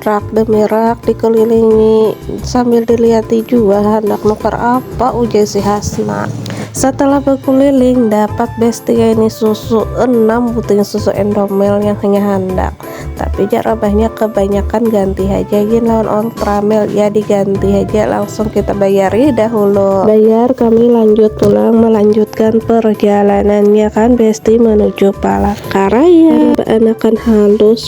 Rak demi rak dikelilingi sambil dilihati jua handak nukar apa ujar si Hasna. Setelah berkeliling dapat bestia ini susu enam buting susu endomel yang hanya handak. Tapi jak rabahnya kebanyakan ganti haja gin lawan ontramel ya diganti haja langsung kita bayari dahulu. Bayar kami lanjut pulang melanjutkan perjalanannya kan besti menuju Palangkaraya. Anakan halus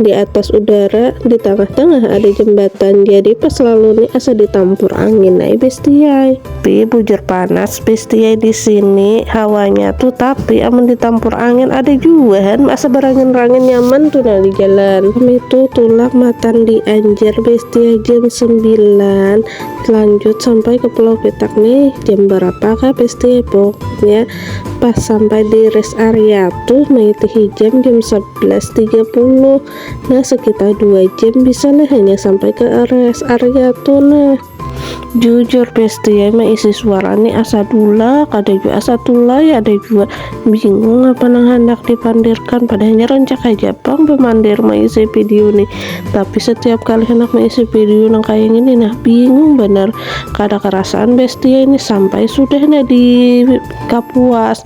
di atas udara di tangah-tangah ada jembatan jadi pas lalu nih asa ditampur angin ay bestiai tapi bujur panas bestiai di sini hawanya tuh tapi amun ditampur angin ada juga han asa berangin-rangin nyaman tuh nah di jalan kami tuh tulak matan di Anjar bestiai jam 9 lanjut sampai ke Pulau Petak nih jam berapa kah bestiai pokoknya pas sampai di rest area tuh maitihi jam jam 10 11.30 nah sekitar 2 jam bisa lah hanya sampai ke area area tuh nah jujur besti ya mah isi suara ini asa dula ada juga asa tulai ada juga bingung apa nang hendak dipandirkan padahalnya rancak aja pang pemandir mengisi video nih tapi setiap kali hendak mengisi video nang kayak gini nah bingung bener kada kerasaan besti ya ini sampai sudah nah di kapuas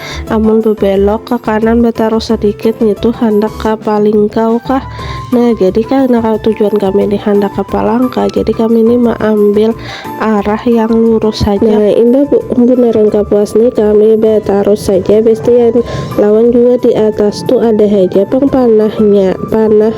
Amun bebelok ka kanan bataruh sadikit ngitu handak ka Palingkau kah? Nah jadi karna tujuan kami ni handak ka Palangka jadi kami ni maambil arah yang lurus haja. Nah imbah bunaran kapuas ni kami batarus haja bestian. Lawan jua di atas tu ada haja pang panahnya, panah.